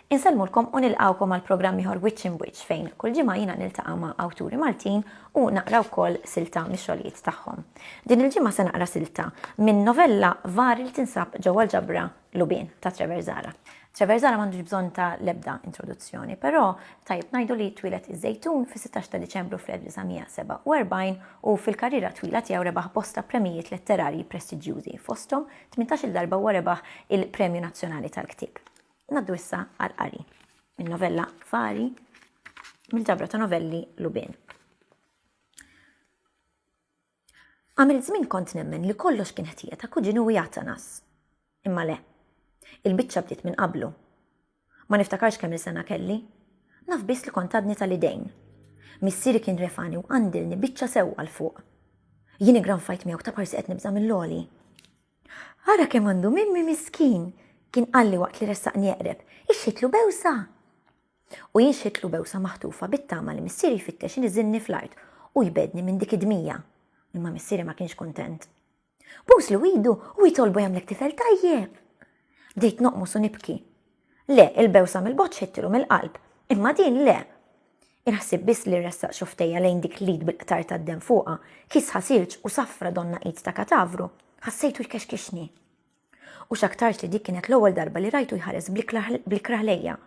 Insellmulkom u nilqawkom għal programm ieħor Witch in Witch fejn kull ġimgħa jiena niltaqa' ma' awturi Maltin u naqra wkoll silta mix-xogħlijiet tagħhom. Din il-ġimgħa se naqra silta minn novella vari li tinsab ġewwa l-ġabra lubien ta' Treverzala. Treverzala m'għandux bżonn ta' l-ebda introduzzjoni, però tajjeb ngħidu li twieled iż-Żejtun fis-16 ta' Diċembru fl-1947 u fil-karriera twila tiegħu rebaħ bosta premijiet letterarji prestiġjużi, fosthom tmintax-il darba huwa rebaħ il-Premju Nazzjonali tal-Ktieb. Ngħaddu issa għall-qari min-novella Fari mill-ġabra ta' novelli Lubien. Għamilt żmien kont nemmen li kollox kien ħtija ta' kuġinu u jatanas. Imma le. Il-biċċa bdiet minn qablu. Ma niftakarx kemm il-sena kelli. Naf biss li kont għadni tal-idejn. Missieri kien refani u qandilni biċċa sewwa 'l fuq. Jien iggranfajt miegħu ta' parsi qed nibża' mill-għoli. Ara kemm għandu mimmi miskin! kien qalli waqt li ressaqni eqreb. Ixħitlu bewsa! U jien xħitlu bewsa maħtufa bit-tama li missieri jfittex iniżilni fl-art u jbegħdni minn dik id-dmija. Imma missieri ma kienx kuntent. Buslu idu u jitolbu jagħmlek tifel tajjeb! Bdejt noqmos u nibki. Le, il-bewsa mill-bogħod xħittilu mill-qalb, imma din le! Il-ħsieb biss li ressaq xoftejja lejn dik l-id bil-qtar tad-demm fuqha, kisħa silġ u safra donna id ta' katavru, ħassejtu jkexkixni. U x'aktarx li dik kienet l-ewwel darba li rajtu jħares bl-ikrah lejja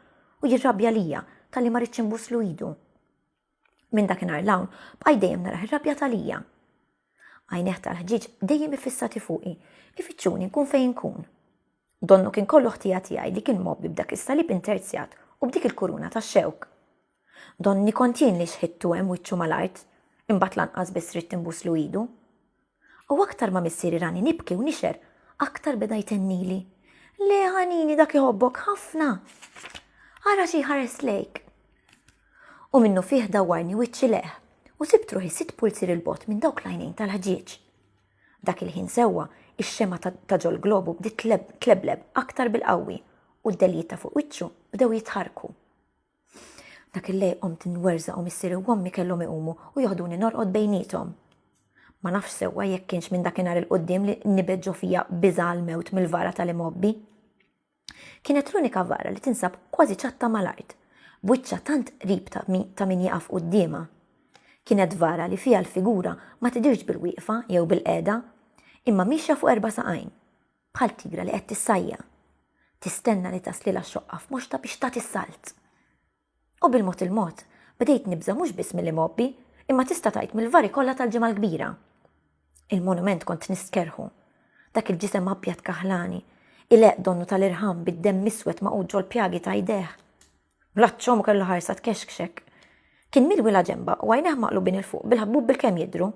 u jirrabja lija talli ma rridx inbusslu idu. Minn dakinhar l-hawn bqajt dejjem naraħ irrabja talija. Għajneħ tal-ħġieġ dejjem ifissati fuqi, ifittxuni nkun fejn nkun. Donnu kien kollu ħtija tiegħi li kien mobbi b'dak is-salib interzjat u b'dik il-kuruna tax-xewk. Donni kont jien li xħittu hemm wiċċu mal-art, imbagħad lanqas biss ridt inbuslu idu. U aktar ma missieri rani nibki u nixher, aktar beda jtennili. Le ħanini dak iħobbok ħafna! Ara xi ħares lejk! U minnu fih dawwarni wiċċi leħ u sibt ruħi sitt pulzir il-bot minn dawk l-għajnejn tal-ħġieġ. Dak il-ħin sewwa, ix-xema ta' ġol globu bdiet tlebleb aktar bil-qawwi u d-deljiet ta' fuq wiċċu bdew jitħarku. Dak il-lej qomt nwerżaq u missieri u ommi kellhom iqumu u joħduni norqod bejniethom. Ma nafx sewwa jekk kienx minn dakinhar il quddiem li nibet ġo fija biża' għall-mewt mill-vara tal-imgħobbi. Kienet l-unika vara li tinsab kważi ċatta mal-art, b'wiċċha tant qrib ta' min jieqaf quddiemha. Kienet vara li fiha l-figura ma tidhirx bil-wieqfa jew bil-qegħda, imma miexja fuq erba' saqajn. Bħal tigra li qed tissajja, tistenna li taslilha xoqqa f'moxta biex tat is-salt. U bil-mod il-mod, bdejt nibża' mhux biss mill-imgħobbi, imma tista' tgħid mill-vari kollha tal-Ġimgħa l-Kbira. Il-monument kont nistkerħu. Dak il-ġisem abjad kaħlani, ileqq donnu tal-irħam bid-demm iswed magħqud ġol-pjagi ta' idejh. Bl-għatxhom u kellu ħarsa tkexkxek. Kien milwi la ġemba u għajnejh maqlubin il fuq bil-ħabbub bil-kemm jidru.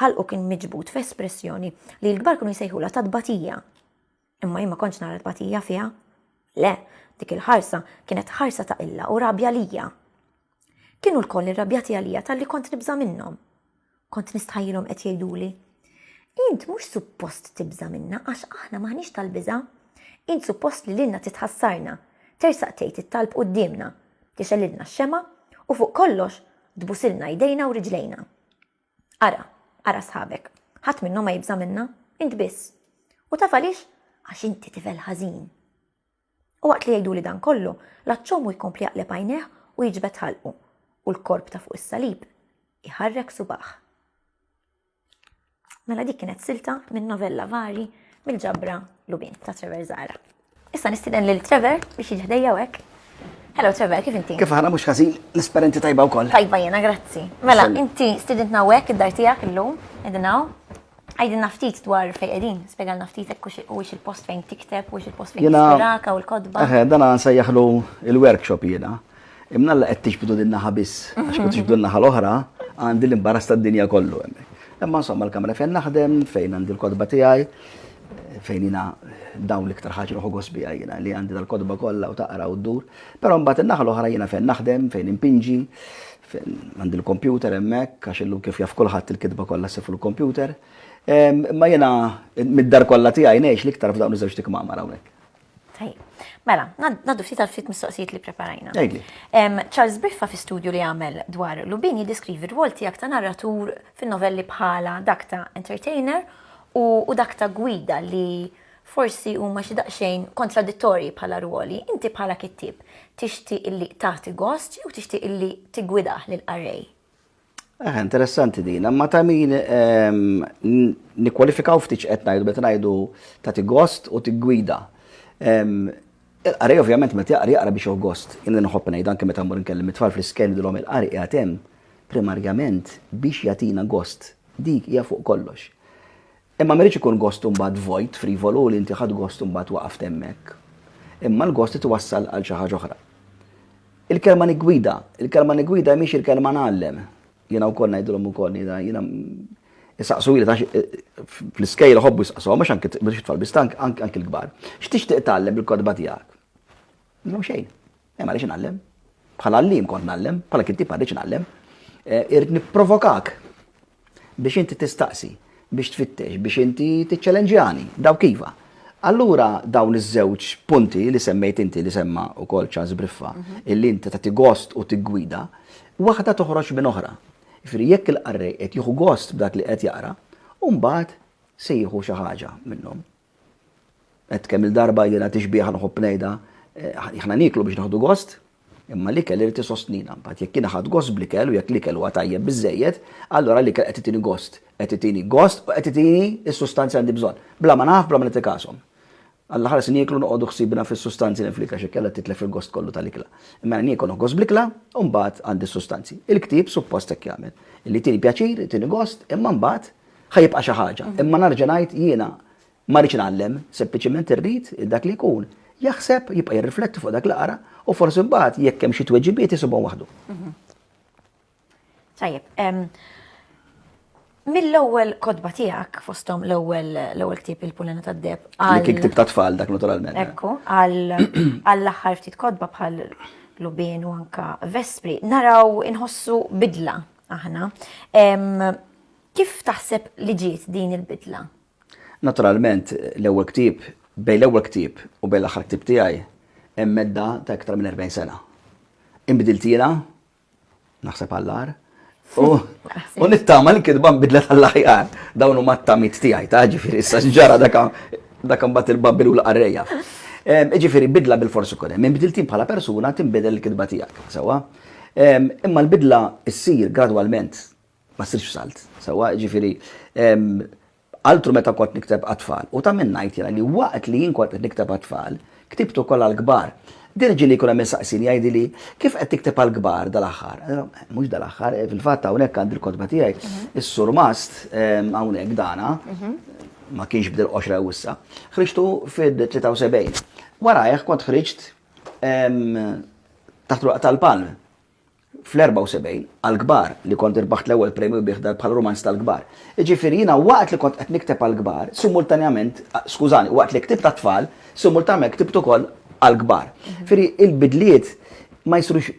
Ħalqu kien miġbud f'espressjoni li l-kbar kienu jsejħula ta' tbatija. Imma jien ma kontx nara tbatija fiha. Le, dik il-ħarsa kienet ħarsa ta' qilla u rabja lija. Kienu lkoll irrabjati għalija talli kont nibża' minnhom. Kont nistħajjilhom qed jgħiduli, Int mhux suppost tibża' minna għax aħna m'aħniex tal-biża'. Int suppost li lilna titħassarna, tersaq tgħid it-talb quddiemna, tixgħelilna x-xemgħa u fuq kollox tbusilna jdejna u riġlejna. Ara, ara sħabek, ħadd minnhom ma jibża' minna, int biss. U taf għaliex? Għax inti tifel ħażin. U waqt li jgħiduli dan kollu, l-għatxhom hu jkompli jaqleb għajnejh u jiġbed ħalqu, u l-korp ta' fuq is-salib iħarrek subagħh. Mela dik kienet silta minn novella vari mill-ġabra Lubin ta' Trevor Zara. Issa nistiden lil Trevor biex jiġi ħdejja hekk. Hello Trevor, kif inti? Kif ħana mhux ħażin l-esperenti tajba wkoll. Tajba jiena, grazzi. Mela, inti stidintna hekk id-dar tiegħek illum, edinaw. Għajdinna ftit dwar fejn qegħdin, spjegalna ftit hekk u x il-post fejn tikteb u x il-post fejn tispiraka u l-kodba. Eħe, dan għan sejjaħlu il-workshop jiena. Imna l qed tixbdu din naħa biss, għax kont tixbdu naħa l-oħra, għandi l-imbaras tad-dinja kollu hemm. Imma insomma l-kamra fejn naħdem, fejn għandi l-kodba tiegħi, fejn jina dawn l-iktar ħaġa ruħu gosbija jina li għandi dal-kodba kollha u taqra u ddur. Però mbagħad in-naħa l-oħra jina fejn naħdem, fejn impinġi, Fejn għandi l-kompjuter hemmhekk għax illum kif jaf kulħadd il-kitba kollha ssir fuq il-kompjuter. Imma jiena mid-dar kollha tiegħi ngħix l-iktar f'dawn iż-żewġ tikmamar hawnhekk. Tajjeb. Mela, ngħaddu ftit għal ftit mistoqsijiet li preparajna. Ejli. Charles Briffa fi studju li għamel dwar Lubin jiddeskrivi r-rwol tiegħek ta' narratur fin-novelli bħala dak ta' entertainer u dak ta' gwida li Forsi huma xi daqsxejn kontradittorji bħala rwoli, inti bħala kittieb tixtieq illi tagħti gost jew tixtieq illi tiggwidah lill-qarrej? Aha, interessanti din, imma ta' min nikkwalifikaw ftit x'qed ngħidu meta ngħidu tagħti gost u tiggwida. Il-qari ovvjament meta jaqri jaqra biex jew gost. Jien nħobb ngħid anke meta mmur nkellem it-tfal fl-isken dilhom il-qari qiegħed hemm primarjament biex jagħtina gost. Dik hija fuq kollox. Imma ma jridx ikun gost imbagħad vojt, frivolu li inti ħadd gost imbagħad waqaft hemmhekk. Imma l-gost li twassal għal xi ħaġa oħra. Il-kelma niggwida, il-kelma niggwida mhix il-kelma ngħallem. Jiena wkoll ngħidilhom ukoll jiena jiena Isaqsu li tax fl-iskejl ħobbu jisaqsu, mhux anke biex tfal biss anke l-kbar. X'tixtieq tgħallem bil-kodba tiegħek? Minnom xejn. Hemm għaliex inallem. Bħala għallim kont nallem, bħala kittib għaliex nallem. Eh, irrid nipprovokak biex inti tistaqsi, biex tfittex, biex inti tiċċelenġjani, daw kiva. Allura dawn iż-żewġ punti li semmejt inti li semma u kol ċans briffa, mhm. illi inti ta' gost u tiggwida, waħda toħroġ minn oħra. Fri jekk il-qarrej qed jieħu gost b'dak li qed jaqra, u mbagħad se jieħu xi ħaġa minnhom. Għedt kemm-il darba jiena tixbiha nħobb ngħidha, aħna nieklu biex nieħdu gost, imma l-ikel irid isostnina. Mbagħad jekk jiena ħadt gost bl-ikel u jekk l-ikel huwa tajjeb biżżejjed, allura l-ikel qed itini gost, qed itini gost u qed itini s-sustanzi li għandi bżonn, bla ma naf, bla ma nagħti każhom. Għall-aħħar se nieklu noqogħdu ħsiebna fis-sustanzi li hemm fl-ikel għax inkella titlef il-gost kollu tal-ikla. Imma jiena niekol nieħu gost bl-ikla u mbagħad għandi s-sustanzi. Il-ktieb suppost hekk jagħmel. Li jtini pjaċir, jtini gost, imma mbagħad Ħajibqa' xi ħaġa, mhm. imma narġa' ngħid jiena ma rridx nagħallem, sempliċement irrid dak li jkun jaħseb jibqa' jirrifletti fuq dak li qara u forsi mbagħad jekk hemm xi tweġibiet isibhom waħdu. Mhm. Tajjeb, mill-ewwel kodba tiegħek fosthom l-ewwel l-ewwel ktieb il-Pulena tad-Deb. Li kien ktieb ta' tfal dak naturalment. Eh. Ekku, għall-aħħar ftit kodba bħal Lubin u anka Vespri, naraw inħossu bidla aħna. Kif taħseb li ġiet din il-bidla? Naturalment, l-ewwel ktieb, bejn l-ewwel ktieb u bejn l-aħħar ktieb tiegħi hemm medda ta' iktar minn 40 sena. Inbidilt jiena, naħseb għall-agħar, U nittama l-kidba nbidlet għall-aħjar. Dawn huma t-tamit tiegħi ta' ġifieri issa ġara dak imbagħad il-babbil u l-qarrejja. Ġifieri bidla bil-forsi kien hemm. Inbidiltin bħala persuna tinbidel il-kidba tiegħek, sewwa. Imma l-bidla ssir gradwalment Ma ssirx f'salt, sewwa, jiġifieri altru meta kont nikteb għat-tfal. U ta' min ngħid jiena li waqt li jien kont qed nikteb għat-tfal, ktibt ukoll għall-kbar. Dirġili jkun hemm min saqsini, jgħidili, Kif qed tikteb għall-kbar dal-aħħar? Mhux dal-aħħar, fil-fatt hawnhekk għandi l-kotba tiegħi, is-surmast hawnhekk dana, ma kienx b'dil-qoxra u issa, ħriġtu fid-73. Warajh kont ħriġt Taħt l-Urq tal-Palm, fl-74, għall-kbar, li kont irbaħt l-ewwel premju bih dan bħala rumanz tal-kbar. Jiġifieri jiena waqt li kont qed nikteb għall-kbar, simultanjament, skużani, waqt li ktibt għat-tfal, simultanjament ktibt ukoll għall-kbar. Jiġifieri il-bidliet ma jsirux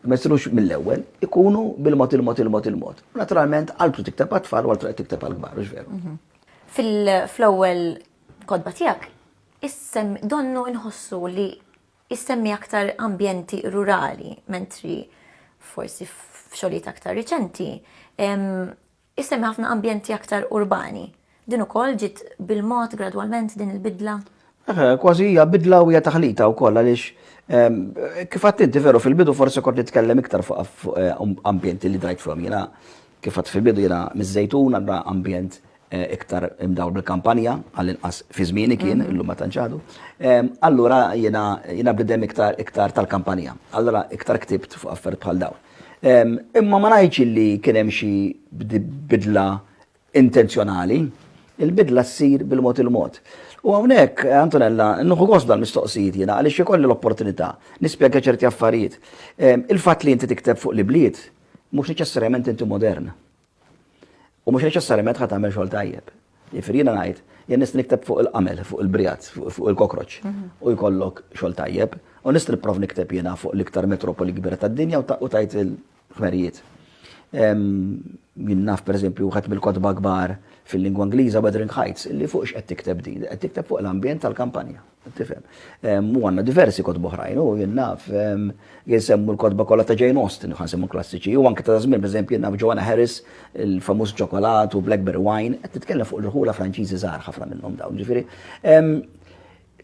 ma jsirux mill-ewwel, ikunu bil-mod il-mod il-mod il-mod. Naturalment, għal tu tikteb għat-tfal u għal tu tikteb għall-kbar, mhux veru. Mhm. Fl-ewwel kodba tiegħek, issem donnu inħossu li Isemmi aktar ambjenti rurali, mentri forsi f'xogħlijiet aktar riċenti isemmi ħafna ambjenti aktar urbani. Din ukoll ġiet bil-mod gradwalment din il-bidla? Kważi hija bidla u hija taħlita wkoll għaliex ehm, kif għadt inti veru fil-bidu forsi kont nitkellem iktar fuq eh, um, ambjenti li drajt fihom jiena kif għadd fil-bidu jiena miż-żejtun għandha ambjent iktar imdawl bil-kampanja, għall-inqas fi żmieni kien, illum ma tantx għadu. Allura jiena bniedem iktar tal-kampanja. Allura iktar ktibt fuq affarijiet bħal dawn. Imma ma ngħidx li kien hemm xi bidla intenzjonali. Il-bidla ssir bil-mod il-mod. U hawnhekk, Antonella, nieħu gost bl-mistoqsijiet jiena għaliex ikolli l-opportunità nispjega ċerti affarijiet. Il-fatt li inti tikteb fuq l-ibliet mhux neċessarjament inti modern. U mhux neċessarjament ħa tagħmel xogħol tajjeb. Jifieri jiena ngħid, jien nista' nikteb fuq il-qamel, fuq il-brijat, fuq il-kokroċ mhm. u jkollok xogħol tajjeb, u nista' nipprov nikteb jiena fuq l-iktar metropoli kbira tad-dinja u tajt il-ħmerijiet. Jien naf pereżempju wieħed mill-kotba kbar fil-lingwa Ingliża Wuthering Heights, illi fuq x'qed tikteb din, qed tikteb fuq l-ambjent tal-kampanja. Tifhem. U għandna diversi kotba oħrajn, u jien naf, jisemmu l-kotba kollha ta' Jane Austen, u ħansemmu klassiċi, u anke ta' żmien, pereżempju, naf Joanna Harris, il-famuż ċokolat u Blackberry Wine, qed titkellem fuq l-irħula Franċiżi żgħar ħafna minnhom dawn. Ġifieri,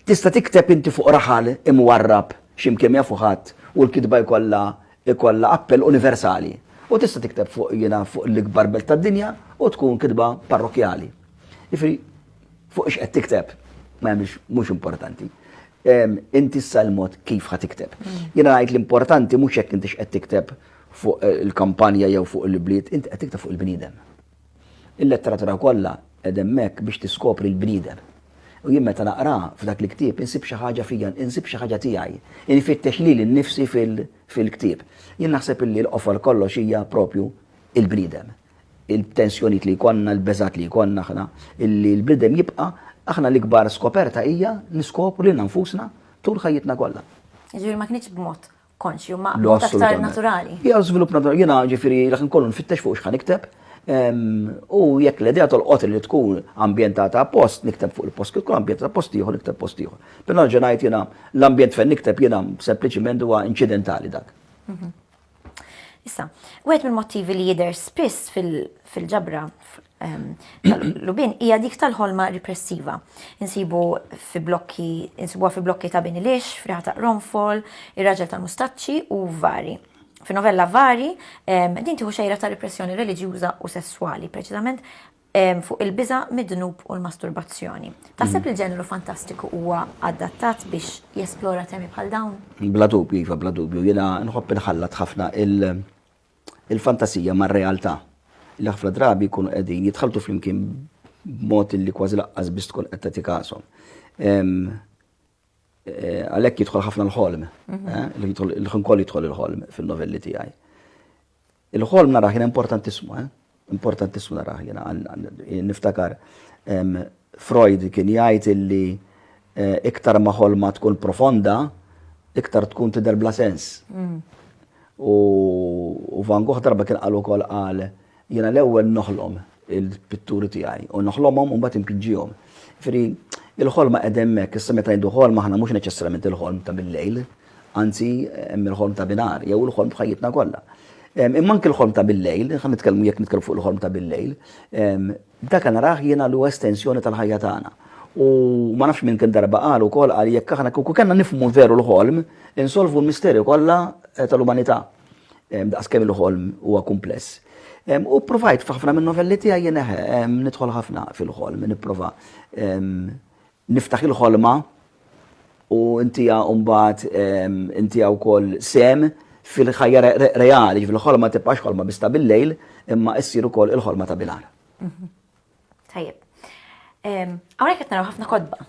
tista' tikteb inti fuq raħal imwarrab xi mkien ma jafu ħadd u l-kitba jkollha jkollha appell universali. U tista' tikteb fuq jiena fuq l-ikbar belt tad-dinja u tkun kitba parrokkjali. Ġifieri, Fuq x'qed tikteb, ma hemmx mhux importanti. Inti issa l-mod kif ħa tikteb. Mm. Jiena ngħid l-importanti mhux jekk inti x'qed tikteb fuq eh, il-kampanja jew fuq il-bliet, inti qed tikteb fuq il-bniedem. Il-letteratura kollha qed hemmhekk biex tiskopri l-bniedem. U jien meta naqra f'dak li ktieb insib xi ħaġa fija, insib xi ħaġa tiegħi. Infittex li l-nifsi fil-ktieb. Jien naħseb illi l-qofol kollox hija propju il-bniedem. il-tensjonijiet li jkollna, il-beżgħat li jkollna aħna, illi l-bniedem jibqa', aħna l-ikbar skoperta hija niskopru lilna nfusna tul ħajjitna kollha. Jiġifieri ma kinitx b'mod konxju, ma b'mod aktar naturali. Hija żvilupp naturali, jiena ġifieri dak inkollu nfittex fuq x'ħa nikteb, u jekk l-idea tolqot li tkun ambjentata appost, nikteb fuq il-post, kif tkun ambjentata post ieħor, nikteb post ieħor. Però nerġa' ngħid jiena l-ambjent fejn nikteb jiena sempliċiment huwa inċidentali dak. Issa, wieħed mill-motivi li jidher spiss fil-ġabra ehm, tal-lubin hija dik tal-ħolma ripressiva. Insibu fi blokki, insibuha fi blokki ta' bini lix, friħa ta' ronfol, ir-raġel tal-mustaċċi u vari. Fi novella vari, ehm, din tieħu xejra ta' ripressjoni reliġjuża u sesswali, preċiżament fuq il-biża' mid-dnub u l-masturbazzjoni. Taħseb li l-ġeneru fantastiku huwa adattat biex jesplora temi bħal dawn? Bla dubju, iva, bla dubju. Jiena nħobb inħallat ħafna il-fantasija mar-realtà li ħafna drabi jkunu qegħdin jitħaltu flimkien b'mod li kważi laqqas biss tkun qed tagħti kasom. Għalhekk jidħol ħafna l-ħolm, il-ħin kollu jidħol il-ħolm fin-novelli tiegħi. Il-ħolm narah jiena importantissimu, eh? Importantissimu narah jiena, niftakar Freud kien jgħid illi eh, iktar ma ħolma tkun profonda, iktar tkun tidher bla sens. Mm. U Van Gogh darba kien qal ukoll qal jiena l-ewwel noħlom il-pitturi tiegħi u noħlomhom u mbagħad impinġihom. Fri, il-ħolma qed hemmhekk, issa meta jdu ħolma aħna mhux neċessarjament il-ħolm ta' bil-lejl, Anzi, hemm il-ħolm ta' binhar, jew il-ħolm f'ħajjitna kollha. Imma anke l-ħolm ta' billejl, ħa nitkellmu jekk nitkellmu fuq il-ħolm ta' billejl, dak narah jiena li huwa estensjoni tal-ħajja tagħna. U ma nafx min kemm darba qal ukoll qal jekk aħna kieku kellna nifhmu veru l-ħolm, insolvu l-misterju kollha tal-umanità. Daqskemm il-ħolm huwa kumpless. U provajt f'ħafna minn novelli tiegħi jien nidħol ħafna fil-ħolm, nipprova Niftaħ il-ħolma u ntiha mbagħad intiha wkoll sehem fil-ħajja reali, ġifieri l-ħolma ma tibqax ħolma biss ta' bil-lejl, imma issir ukoll il-ħolma ta' bilgħar. Tajjeb. Hawnhekk qed naraw ħafna kotba.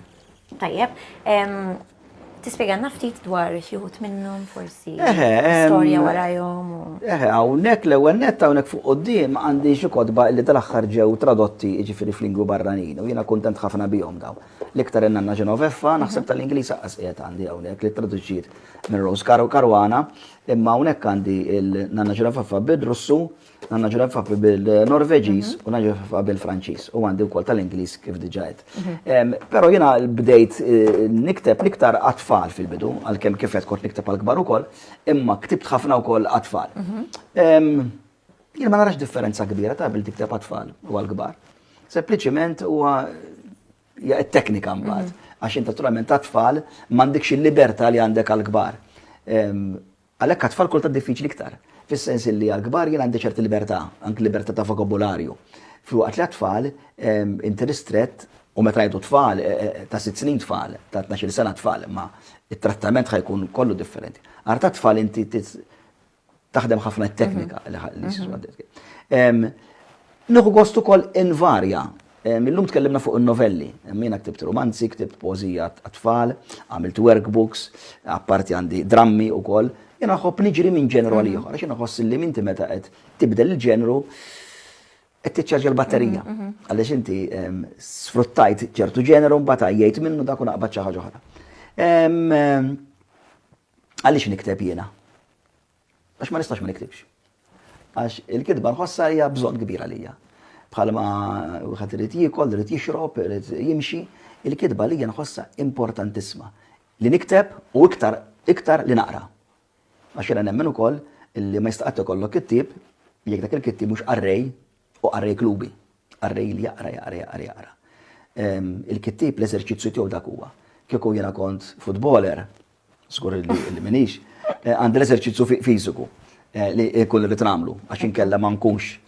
Tajjeb. Tispjegalna ftit dwar xi wħud minnhom forsi storja warajhom. Eħe, hawnhekk l-ewwel nett hawnhekk fuq quddiem għandi xi kotba li tal-aħħar ġew tradotti jiġifieri f'lingwi barranin u jiena kuntent ħafna bihom dawn. L-iktar in-nanna Genoveffa naħseb tal-Ingliż aqqas qiegħed għandi hawnhekk li traduċiet minn Rose Caruana, imma hawnhekk għandi l-nanna Genoveffa bir-Russu Għanna ġrafafi bil-Norveġiż u naġrafafa bil-Franċiż u għandi wkoll tal-Ingliż kif diġa qed. Mhm. Però jiena bdejt eh, nikteb niktar għatfall fil-bidu, għalkemm kif qed kont nikteb għal-kbar ukoll, imma ktibt ħafna wkoll għatfall. Mhm. Jien ma narax differenza kbira ta' bil tikteb għatfall u għal-kbar. Sempliċiment huwa teknika mbagħad, mhm. għax inta naturalment għatfall m'għandekx il-libertà li għandek għal-kbar. Għalhekk għat-tfal kultant diffiċli iktar, fis-sens illi għall-kbar jien għandi ċerti libertà, anki libertà ta' vokabularju, filwaqt li għat-tfal inti ristrett, u meta ngħidu tfal, ta' sitt snin tfal, ta' tnax-il sena tfal, imma t-trattament ħa jkun kollu differenti. Għar tat-tfal inti taħdem ħafna t-teknika li. Nieħu gost ukoll invarja Illum tkellimna fuq in-novelli. Jiena ktibt rumanzi, ktibt poeżija għat-tfal, għamilt workbooks, apparti għandi drammi wkoll. Jiena nħobb niġri minn ġenru għal ieħor, għax jiena nħoss li inti meta qed tibdel il-ġenru qed tiċċarġja l-batterija. Għaliex inti sfruttajt ċertu ġenru mbagħad għajjejt minnu dak u naqbad xi ħaġa oħra. Għaliex nikteb jiena? Għax ma nistax ma niktibx. Għax il-kitba nħossha hija bżonn kbira lija. Bħalma wieħed irid jiekol, irid jixrob, irid jimxi, il-kitba lija nħossha importantissima. Li nikteb u iktar iktar li naqra. Għax jiena nemmen ukoll li ma jistaqgħet ikollok kittib jekk dak il-kittib mhux qarrej u qarrej klubi. Qarrej li jaqra, jaqra, jaqra, jaqra. Il-kittieb l-eżerċizzju tiegħu dak huwa. Kieku jiena kont futboler, żgur li minix, eh, għandi l-eżerċizzju fiżiku eh, li kull li tramlu, għax inkella ma nkunx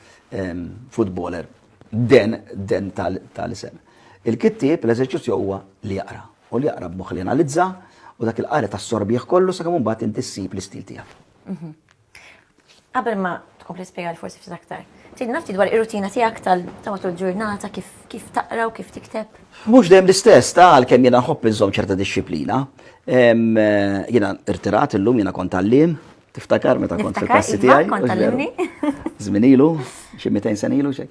futboler den den tal-isem. Il-kittieb l-eżerċizzju huwa li jaqra u li jaqra b'moħħ li analizza u dak il-qari tas-sorbieħ kollu sakemm imbagħad inti ssib l-istil tiegħek. Mhm. Qabel ma tkompli spjega l forsi ftit aktar. Tid nafti dwar ir-rutina tiegħek tal ta' matul ġurnata kif kif taqra u kif tikteb? Mhux dejjem l-istess ta' għalkemm jiena nħobb inżomm ċerta disċiplina. Jiena irtirat illum jiena kont għalliem, tiftakar meta kont fil-klassi iva, tiegħi. Kont għallimni. Żmien ilu, xi 200 sen ilu xejn.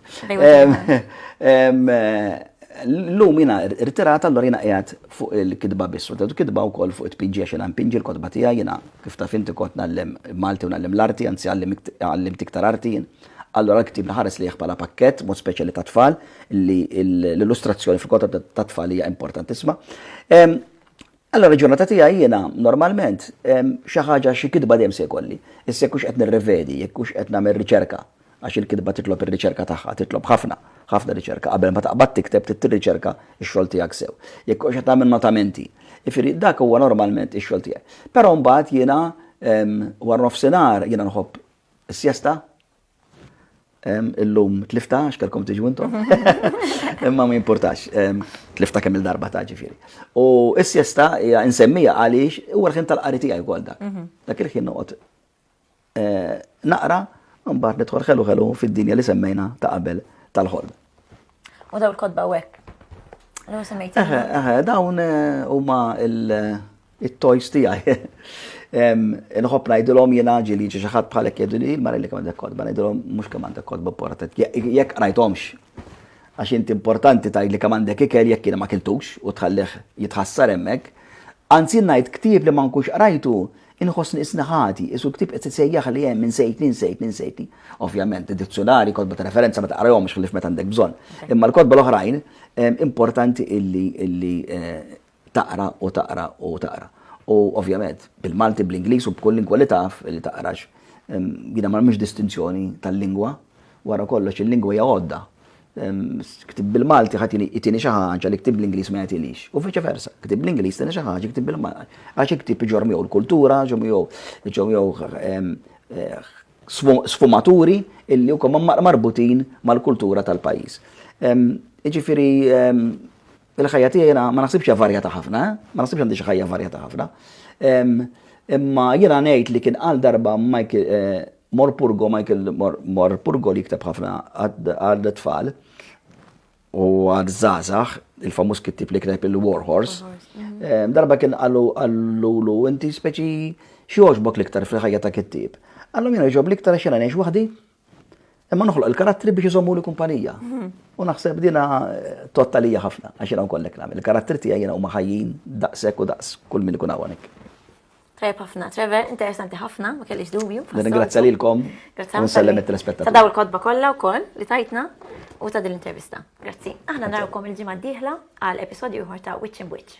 L-lum jina rtirat allora jina qiegħed fuq il-kidba biss, u kitba wkoll fuq it-pinġi għax jina mpinġi l-kotba tiegħi jina Kif taf inti kont ngħallem Malti u ngħallem l-arti, anzi għallimt iktar arti jien. Allura l-ktieb nħares lejh bħala pakkett, b'mod speċjali tat-tfal, li l-illustrazzjoni fil-kotba tat-tfal hija importantissima. Allura l-ġurnata tiegħi jiena normalment xi ħaġa xi kitba dejjem se jkolli. Issa jekk hux qed nirrevedi, jekk hux qed nagħmel riċerka, Għax il-kitba titlob ir-riċerka tagħha, titlob ħafna, ħafna riċerka. Qabel ma taqbad tikteb trid tirriċerka x-xogħol tiegħek sew. Jekk ikunx qed tagħmel notamenti. Jiġifieri dak huwa normalment ix-xogħol tiegħi. Però mbagħad jiena wara nofsinhar jiena nħobb is-sjesta. Illum tlifta għax kellkom tiġu intom. Imma ma jimpurtax. Tlifta kemm il-darba ta' ġifieri. U s-sjesta hija insemmija għaliex huwa l-ħin tal-qari tiegħi wkoll dak. Mhm. Dak il-ħin noqgħod naqra, mbagħad nidħol ħelu ħelu fid-dinja li semmejna ta' qabel tal-ħolm. U daw il-kodba u hekk. Dawn eh, huma il-toys tiegħi. Nħobb ngħidilhom jiena ġili xi ħadd bħalek jgħidu li mara li kemm għandek kodba, ngħidilhom mhux kemm għandek kodba portat. Jekk qrajthomx għax inti importanti tgħid li kemm għandek ikel jekk jiena ma kiltux u tħallih jitħassar hemmhekk. Anzi ngħid ktieb li ma nkunx qrajtu Inħossni isni ħati, qisu l-ktieb qed isejjaħli hemm, insejtni, insejtni, insejtni. Ovvjament, id-dizzjunarji, kotba ta' referenza ma taqrahomx ħlief meta għandek bżonn. Imma l-kotba l-oħrajn importanti illi illi taqra u taqra u taqra. U ovvjament, bil-Malti, bl-Ingliż u b'kull lingwa li taf li taqrax. Jiena ma nagħmilx distinzjoni tal-lingwa, wara kollox il-lingwa hija għodda. Ktib bil-Malti ħadd jtini xi ħaġa li ktib bl-Ingliż ma jagħtilix. U viċi versa, ktib bl-Ingliż tieni xi ħaġa ktib bil-Malti. Għax il-ktib iġor miegħu l-kultura, ġo miegħu ġo miegħu ehm, eh, sfumaturi illi huma marbutin mal-kultura tal-pajjiż. Ehm, jiġifieri ehm, Il-ħajja tiegħi jiena ma naħsibx hija varjata ħafna, eh? ma naħsibx għandi xi ħajja varjata ħafna. Imma jiena ngħid li kien għal darba Michael eh, Morpurgo, Michael Morpurgo li jikteb ħafna għal tfal u għal zazax, il-famus kittib li kitab il-War Horse. Mhm. Darba kien għallu għallu inti speċi xieħoġbok liktar fil-ħajja ta' kittib. Għallu jena ġob liktar xena neħx wahdi, Imma noħloq il-karattri biex iżommu li kumpanija. U naħseb dina eh, tottalija ħafna, għax jena nkollek nagħmel. Il-karattri tiegħi jena huma ħajjin daqshekk u daqs kull min ikun hawnhekk. Tajb ħafna, Trevor, interessanti ħafna, ma kellix dubju. Ringrazzja lilkom. Grazzja. Nsellem it-telespettaturi. Ta' daw il-kodba kollha wkoll li tajtna u ta' din l-intervista. Grazzi. Aħna narawkom il-ġimgħa d-dieħla għal episodju ieħor ta' Witch in Witch.